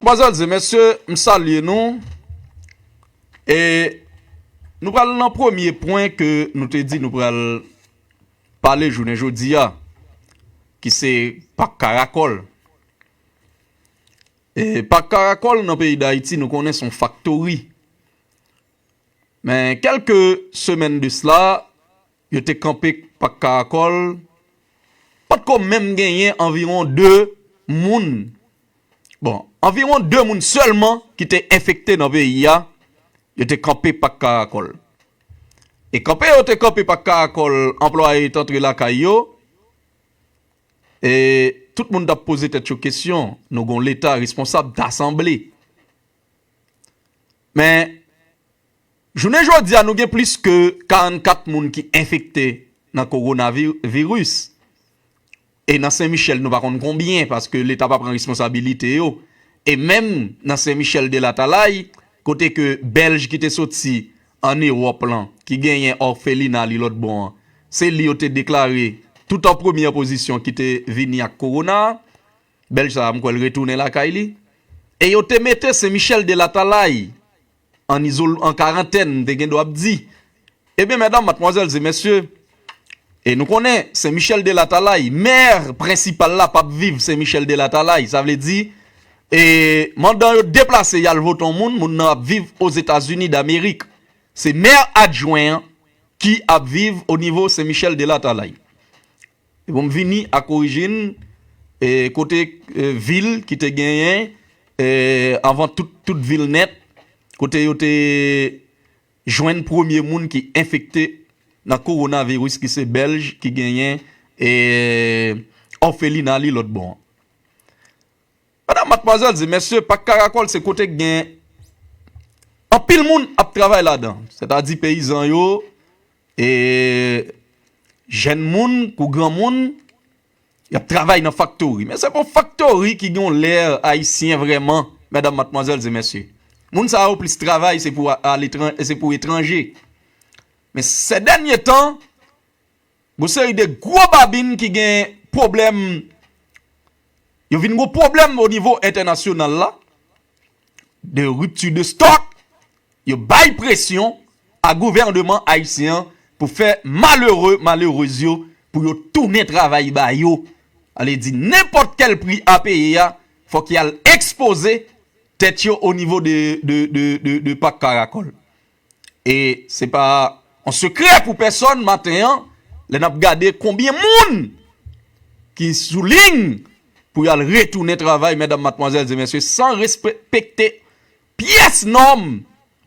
Manzèl di, Mesye, m salye nou. E nou pral nan premye pwen ke nou te di nou pral pale jounen jodi a, ki se Pak Karakòl. E Pak Karakòl nan peyi Dayiti nou konnen son faktori. Men kèlke semèn de sla, Yo te kanpe Pak Karakòl, pa t ko menm genyen anviwon 2 moun, bon, anviwon 2 moun sèlman ki te enfekte nan peyi a, yo te kanpe Pak Karakòl. E kanpe yo te kanpe Pak Karakòl, anplwaye t antre lakay yo, e tout moun t ap poze tèt yo kesyon, nou gen yon Leta responsab, ta sanble. Men. Jounen jodi a nou gen plis ke 44 moun ki enfekte nan kowona viris e nan sen michèl nou pa konn konbyen paske leta pa pran responsabilite yo e menm nan sen michèl de latalay kote ke bèlj ki te soti an ewòp lan ki genyen òfelina li lòt bò an se li yo te deklare tout an premye pozisyon ki te vini ak kowona a bèlj sa a m kwè l retounen lakay li e yo te mete sen michèl de latalay An izol, an karantèn, m te gen dwa ap di, Ebyen, mèdam, matmwazèl, ze mèsye, e nou konnen, Sen Michèl de Latalay, mè prensipal la, p ap viv Sen Michèl de Latalay, sa vle di, e mandan yo deplase y al vote yon moun, moun nan ap viv Ozetazini Damerik. Se mè adjwen an ki ap viv onivo Sen Michèl de Latalay. Ebon m vini ak orijin e kote vil ki te genyen e anvan tout tout vil nèt kote yo te jwenn premye moun ki enfekte nan kowonaviris ki se bèlj ki genyen e òfelina li lòt bò an. Madam matmwazèl di mesye pak karakòl se kote k gen anpil moun ap travay ladan sètadi peyizan yo E jèn moun kou granmoun y ap travay nan faktori. Men se pou faktori ki gen yon lè ayisyen vrèman medam matmwazèl e mesye. Moun sa yo plis travay se pou aletran se pou etranje. Men sè dènye tan gon seri de gwo babin ki gen pwoblèm yo vin gon pwoblèm o nivo entènasyonal la. de rupture de stock, yo bay presyon a gouvèneman ayisyen an pou fè malere, malerez yo pou yo tounen travay ba yo. A vle di nenpòt kèl pri a peye a, fòk y al ekspoze tèt yo onivo de pak karakòl. E se pa yon sekrè pou pèsòn maten an lè nap gade konbyen moun ki sou ling pou yo al retounen travay mèdam matmwazèl e mesye san respekte pyès nòm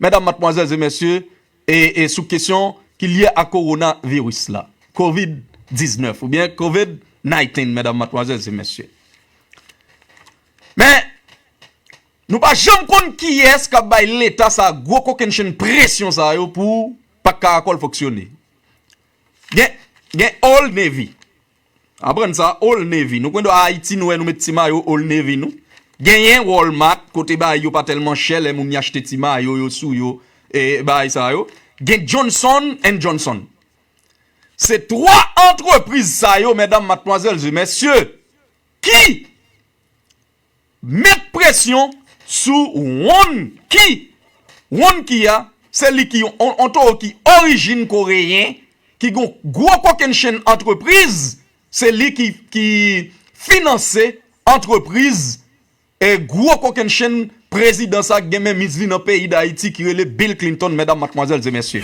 mèdam matmwazèl e mesye e sou kesyon ki lye a kowona viris la covid 19 ou byen covid 19 mèdam matmwazèl e mesye men Nou pa janm konn kiyès kap bay leta sa gwo kokennchenn presyon sa yo pou pak karakòl fonksyone. Gen gen Old Navy. Aprann sa Old Navy. Nou konn a Ayiti nou wè nou met ti mayo Old Navy nou. Genyen Walmart kote bagay yo pa tèlman chè lè moun y achte ti mayo yo sou yo e bagay sa yo. Gen Johnson and Johnson. Se 3 antrepriz sa yo mèdam matmwazèl e mesye ki Met presyon sou wonn ki. Wonn ki a, se li ki yon towo ki orijin koreyen, ki gen yon gwo kokennchenn antrepriz, se li ki finanse antrepriz e gwo kokennchenn prezidan sa ki gen menmiz li nan peyi Dayiti ki rele Bill Clinton, medam, matmwazèl e mesye.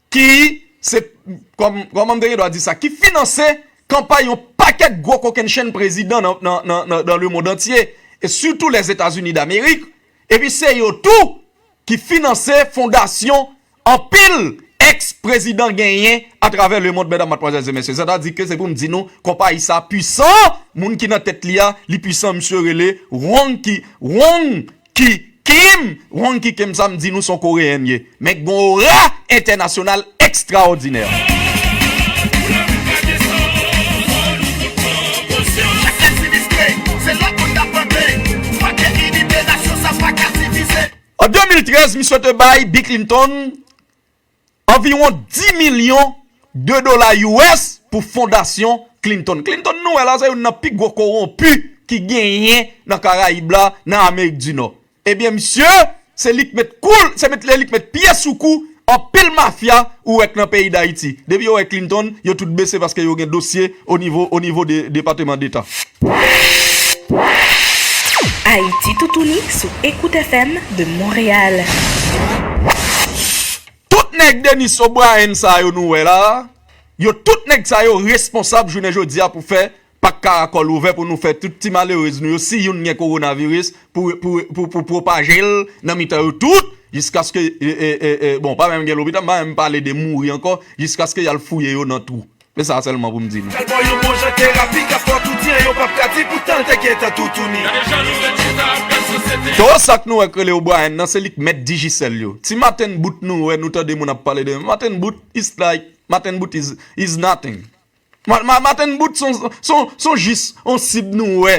Ki, se, kòman m te gen dwa di sa, ki finanse kanpay yon pakèt gwo kokennchenn prezidan nan lemondantye, e sitou Lèzetazini Damerik, epi se yo tou ki finanse fondasyon anpil èks prezidan genyen atravè lemond, mèdam, matmwazèl, e mesye. Sètadi ke se pou m di nou, konpayi sa a pwisan, moun ki nan tèt li a, li pwisan, misye rele Wong Ki, Wong. Ki Kim Hong ki Kim sa m di nou son koreyenn ye men ki gon ora entènasyonal ekstraòdinè. An 2013 misye te bay Bi Clinton. Anviwon 10 milyon de dola US pou fondasyon Clinton. Clinton nou wè la se youn nan pi gwo kowonpi ki genyen nan karayib la, nan amerik di nò. Ebyen misye se li k met kou l, se li k met pye sou kou anpil mafya ou wè k nan peyi dayiti. Depi yo wè Clinton yo tout bese paske yo gen dosye O nivo o nivo de depateman deta. Ayiti Toutouni sou Ecoute FM de Montréal. Tout nèg Denis O'Brien sa yo nou wè la a, yo tout nèg sa yo responsab jounen jodi a pou fè pak karakòl ouvè pou nou fè tout ti malerez nou yo si youn gen kowonaviris pou pou pou pwopaje l nan mitan yo tout jiskaske bon pa menm gen lopital m pa menm pale de mouri ankò jiskaske y al fouye yo nan twou Men sa sèlman pou m di nou. Kalbò yon bon jan terapi k ap fè w tou diyan yo p ap ka di poutan l te gentan toutouni. Gade jan nou ret chita ap gad sosyete an. Toro sak nou wè k rele O'Brien nan se li k mèt Digicel yo. Ti maten bout nou wè nou tande moun ap pale de maten bout it's like maten bout is is nothing. Maten bout son son son jis on sib nou wè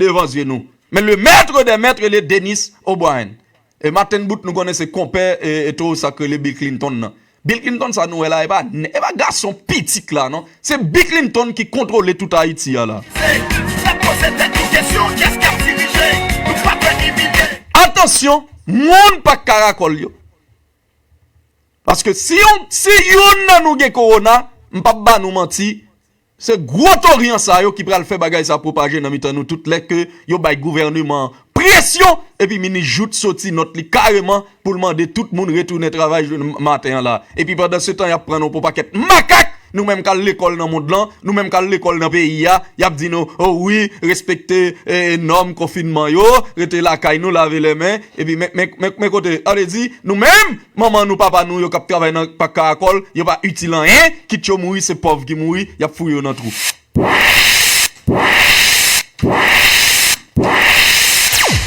devan zye nou. Men le mètre dè mètre rele Denis O'Brien. E maten bout nou konnen se konpè e towo sak rele Bill Clinton nan. Bill Clinton sa nou wè la e pa nè e pa gason pitit la non. Se Bill Clinton ki kontwole tout Ayiti a la. Atansyon moun pak karakòl yo. Paske si yon si youn nan nou gen korona m pap ba nou manti Se gwo toryan sa yo ki pral fè bagay sa pwopaje nan mitan nou tout lè ke yo bay gouvèneman an presyon epi minis Jouthe soti nòt li kareman pou l mande tout moun retounen travay jounen maten an la epi pandan se tan y ap pran nou pou pakèt makak nou menm k al lekòl nan mond lan nou menm k al lekòl nan peyi a y ap di nou o wi respekte nòm konfinman yo rete lakay nou lave lè men epi men men men kote an e di nou menm Manman nou papa nou yo kap travay nan pak karakòl yo pa itil anyen kit yo mouri se pòv ki mouri yap fouye yo nan twou.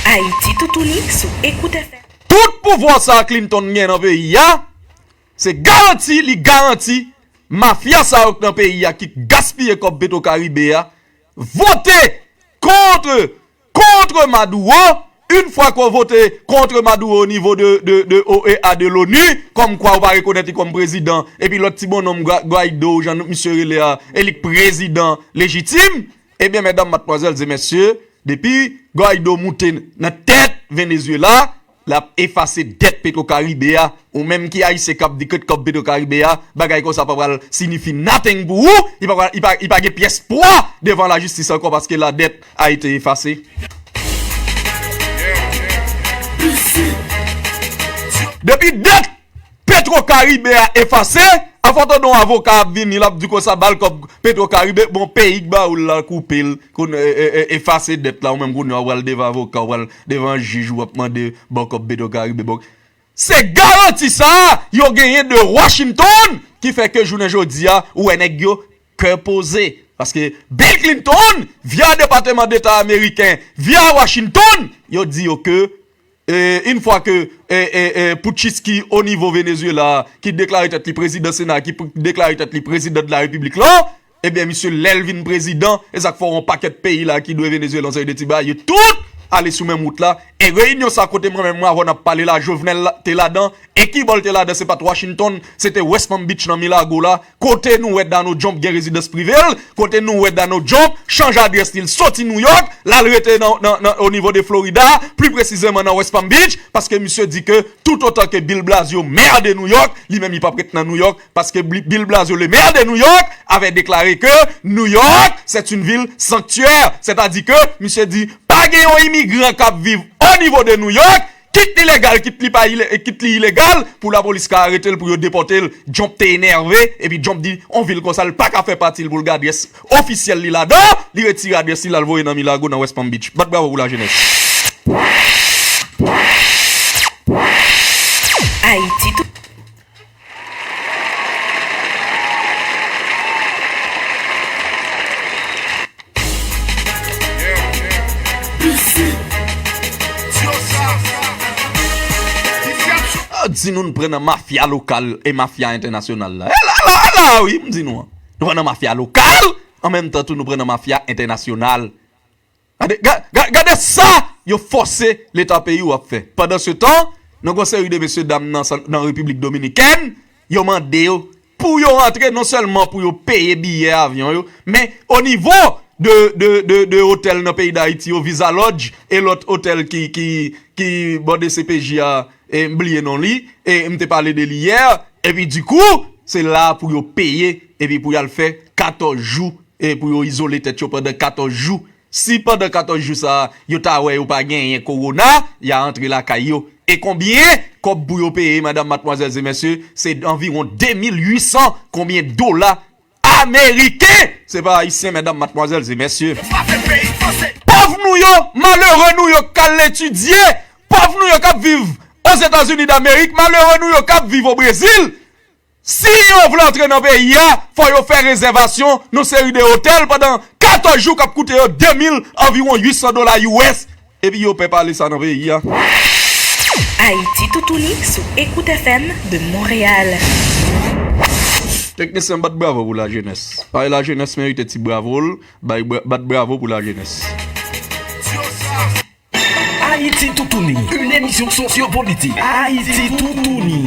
Ayiti toutouni sou Ecoute FM. Tout pouvwa sa Clinton gen nan peyi a se garanti li garanti mafya sa yo k nan peyi a ki gaspiye kòb petro caribe a vote contre kontre Maduro, yn fwa ke w vote kontre Maduro o nivo de OEA de l'ONU, kòm kwa ou pa rekonèt li kòm prezidan, epi lòt ti bonnonm Guaido ou jan misye rele a, e li k prezidan lejitim, ebyen mèdam matmwazèl zemèsye, depi Guaido moute nan tèt Venezuela, lap efase dèt petrokaribe a ou menm ki ayisyen kap di kèt kòb petrokaribe a bagay konsa pa pral sinifi nothing pou ou li pa gen pyès pwa devan la jistis ankò paske la dèt a ete efase. Depi 2. Petro karibe a efase, afò ton don avoka ap vini lap di konsa bal kòb petro karibe, bon peyi k ba oul la koupel kon efase dèt la ou menm kounye a ou pral devan avoka ou pral devan jij ou ap mande baw kòb petro karibe bon se garanti sa yo genyen de Washington ki fè ke jounen jodi a ou wè nèg yo kè poze paske Bill Clinton via depateman deta ameriken via Washington yo di yo ke Une fwa ke putchist ki o nivo Venezuela a, ki deklare tèt li prezidan sena a, ki deklare tèt li prezidan de la repiblik la, ebyen misye lè l vin prezidan, e sa k fè yon pakèt peyi la ki dwe Venezuela yon seri de ti bagay, yo tout ale sou menm wout la, e reyinyon sa kote mwen menm avè w n ap pale la Jovenel te ladan, e kibò l te ladan se pa t Washington, se te West Palm Beach nan Milago la. Kote nou wè Dano Jump gen rezidans prive l, kote nou wè Dano Jump chanje adrès li, l soti New York, l al rete nan o nivo de Florida, pli presizeman nan West Palm Beach, paske misye di ke tout otan ke Bill Blasio Maire de New York, li menm li pap ret nan New York, paske Bill Blasio le Maire de New York avè deklare ke New York c'est une ville sanctuaire, sètadi ke misye di pa gen yon imigran kap viv o nivo de New York Kit li legal kit li pa kit li ilegal pou la polis ka aretel pou yo depotel jump te enève epi jump di on vil konsa li paka fè patil poul gen adrès ofisyèl li ladan li retire adrès li lal voye nan milago nan west palm beach bat bravo pou la jenès. Di nou n pran nan mafya lokal e mafya entènasyonal la. E la la, e la a wi m di nou an. Nou pran nan mafya lokal, an menm tan tou nou pran nan mafya entènasyonal. Gade, gade, gade sa yo fòse leta peyi ou ap fè. Pandan se tan, nan gon seri de mesye dam nan san, nan Repiblik Dominikèn, yo mande yo pou yo antre non sèlman pou yo peye biyè avyon yo, men o nivo de, de, de, de otèl nan peyi Dayiti yo, Visa Lodge e lòt otèl ki, ki, ki bò dcpj a, e m bliye non li, e m te pale de li yè, epi di kou, se la pou yo peye epi pou y al fè 14 jou. E pou yo izole tèt yo pandan 14 jou. Si pandan 14 jou sa a, yo ta wè yo pa genyen kowona, ya antre lakay yo. E konbyen kòb pou yo peye madam, matmwazèl e mèsye? Se anviwon 2800 konbyen dola ameriken! Se pa ayisyen medam, matmwazèl e mèsye. Pòv nou yo, malere nou yo k k al etidye, pòv nou yo k ap viv Ozetazini Damerik, malere nou yo k ap viv o Brezil. Si yo vle antre nan peyi a, fò yo fè rezèvasyon nan seri de otèl pandan 14 jou k ap koute yo 2 mil, anviwon 800 dola US, epi yo pè pale sa nan peyi a. Ayiti Toutouni sou Ecoute FM de Montréal. Teknisyen bat bravo pou lajenès. Pae lajenès merite ti bravo l, bay bat bravo pou lajenès. Ayiti Toutouni, yn emisyon sosyo politik. Ayiti Toutouni.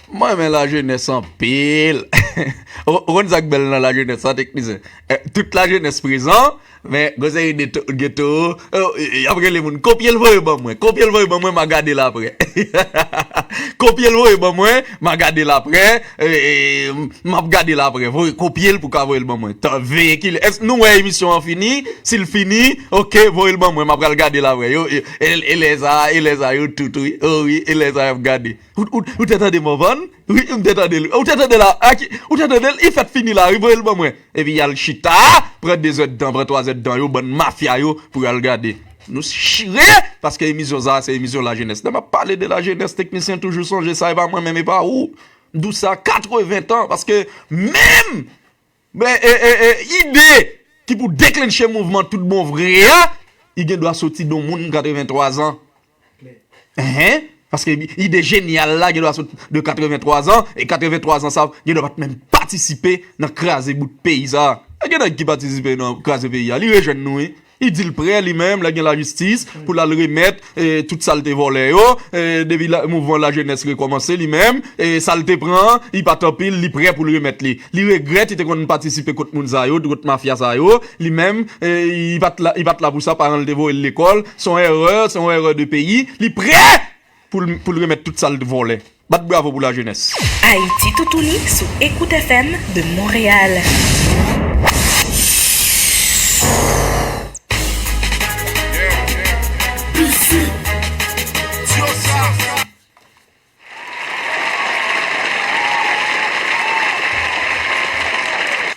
Mwen renmen la jenes anpil. Ou konn sak bel nan la jenes sa teknisyen tout la jenes prezan men gen seri de gen toro yap rele moun kopyel voye ban mwen kopyel voye ban mwen ma gadel aprè kopyel voye ban mwen ma gadel aprè map gadel aprè voye kopyel pou ka voyel ban mwen tan veye kilè èske nou wè emisyon an fini sil fini ok voyel ban mwen ma pral gadel aprè yo elè sa elè sa yo tout wi o wi elè sa yap gade. Ou te tande Morvan? Wi, m te tande l. Ou te tande l a ki? Ou te tande l? Li fèk fini la wi, voye l ban mwen. Epi y al chita, pran dezèdtan, pran twazèdtan yo, bann mafya yo, pou y al gade. Nou chire, paske emisyon sa a se emisyon lajenès. Lè m ap pale de lajenès, teknisyen toujou sonje sa, e pa mwen menm, e pa ou. M di w sa 80 tan, paske menm! Men ide ki pou deklentche mouvman tout bon vre a, li gen dwa soti don moun 83 zan. Enhen, paske ide jenyal la gen dwa soti de 83 zan, e 83 zan sa gen dwa pa t menm patisipe nan kraze bout peyi sa. Gen nèg ki patisipe nan kraze peyi a, li rejèn nou wi. Li di l prè li menm lè gen lajistis pou l al remèt tout sa l te vòlè yo. Depi mouvman lajenès rekòmanse li menm sa l te pran an li pa t anpil li prè pou l remèt li. Li regrèt li te konn patisipe kot moun sa yo, kot mafya sa yo. Li menm li pa t la pou sa, paran l te voye l lekòl, s on èrè, s on èrè de peyi. Li prè! Pou l remèt tout sa l t vòlè. Bat bravo pou la jeunesse. Ayiti Toutouni sou Ecoute FM de Montréal.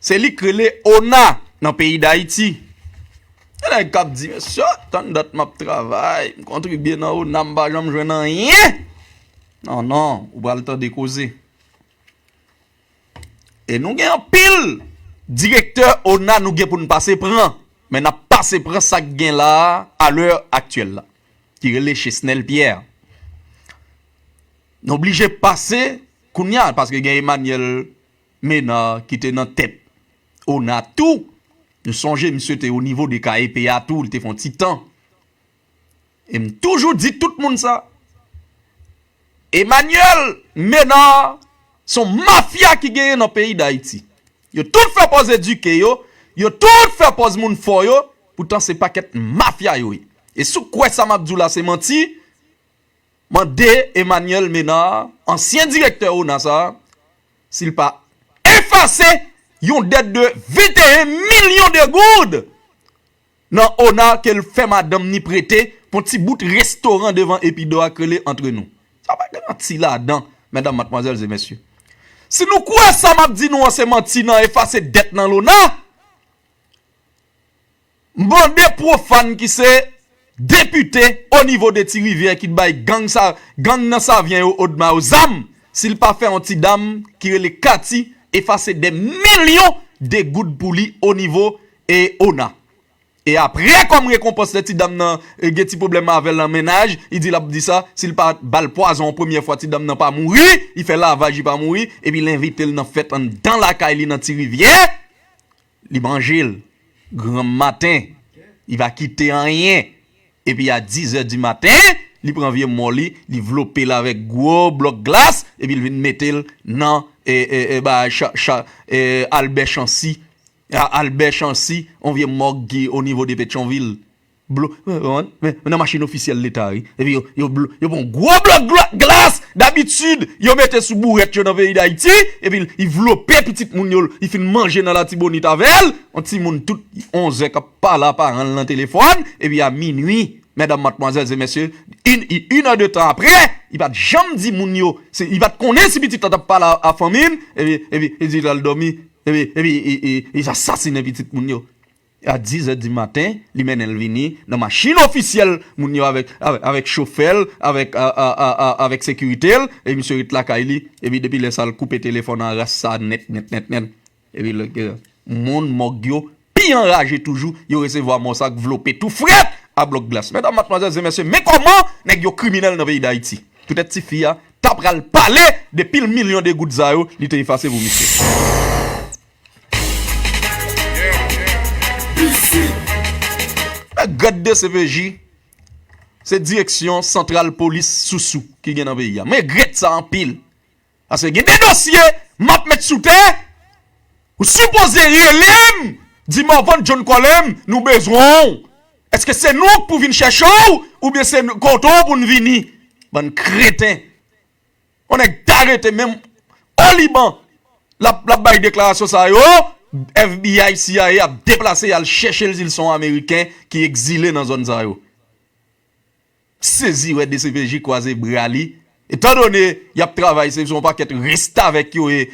Se li k rele ona nan peyi dayiti. Gen nèg kap di mesye oh tann dat map travay m kontribye nan ona m pa janm jwenn anyen nan nan ou pral tande koze. E nou gen anpil direktè ona nou gen poun pase pran men nap pase pran sak gen la a lè aktyèl la ki rele chesnèl pyè. Nou blije pase kounya paske gen emanyèl. Menard ki te nan tèt ona tou m sonje misye te onivo de KEP a tou li te fè yon ti tan e m toujou di tout moun sa Emmanuel Menard se yon mafya ki genyen nan peyi dayiti yo tout fè pòz edike yo yo tout fè pòz moun fò yo poutan se pakèt mafya yo ye e si w kwè sa m ap di w la se manti Mande Emmanuel Ménard, ansyen direktè ona sa, si l pa efase yon dèt de 21 milyon de goud nan ona ke l fè madanm ni prete pou ti bout restoran devan Epidò a k rele Entre Nous. Sa pa gen manti ladan, medam, matmwazèl e mesye. Si nou kwè sa m ap di nou an se manti nan efase dèt nan lona, M mande Profane ki se Depite o nivo de Ti Rivyè ki t bay gang nan Savyen yo Odma yo zam si l pa fè yon ti dam ki rele Katy efase dè milyon de goud pou li o nivo ona. E apre kòm rekonpans lè ti dam nan gen ti pwoblèm avè l an mennaj li di l ap di sa si l pa ba l pwazon yon premyè fwa ti dam nan pa mouri li fè lavaj li pa mouri epi l envite l nan fèt anndan lakay li nan Ti Rivyè Li manje l. Granm maten, li pa kite anyen. Epi a dizè di maten, li pran vye mò li, li vlope l avèk gwo blòk glas, epi l vin mete l nan Albè Chansi, yon vye mòg ki onivo de Petyonvil. Blo, nan konprann, men nan machin ofisyèl leta wi, epi yo, yo blo, yo pran yon gwo blòk gla, glas, dabitid, yo mete sou bourèt yo nan peyi dayiti, epi l, li vlope pitit moun yo l, li fin manje nan latibonit avè l, yon timoun tout onzè k ap pale a paran l nan telefòn, epi a minui, mèdam, matmwazèl, se mesye, in, i, in è de tan apre, li pa t janm di moun yo, se, li pa t konnen si pitit la t ap pale a fanmi l, epi, epi, epi li al dòmi, epi, epi, i, i, i, i asasinen pitit moun yo. A dizè di maten, li mennen l vini nan machin ofisyèl moun yo avèk avèk chofè l, avèk avèk sekirite l, epi misye ret lakay li, epi depi lè sa l koupe telefòn an ras sa nèt nèt nèt nèt. Epi lè ke moun mòg yo pi anraje toujou, yo resevwa mò sa k vlope tou frèt a blòk glas. Medam, matmwazèl, zen mesye, men kòman nèg yo kriminèl nan peyi Dayiti. Poutèt ti fi a ta pral pale de pil milyon de goud sa yo li te efase pou misye. Gad dcpj se direksyon santral polis sousou ki gen nan peyi a. Mwen egrèt sa anpil. Paske gen de dosye map met sou tè ou sipoze rele m di Morvan John Colem nou bezwen w. Eske se nou k pou vin chèche w oubyen se kote w pou n vini. Bann kreten. On nèg ta rete menm o Liban lap bay deklarasyon sa yo, FBI, cia ap deplase yal chèchel sil son ameriken ki ekzile nan zòn sa yo. M sezi wè dcpj kwaze bra li, etan done yap travay se yon pakèt restavèk yo ye.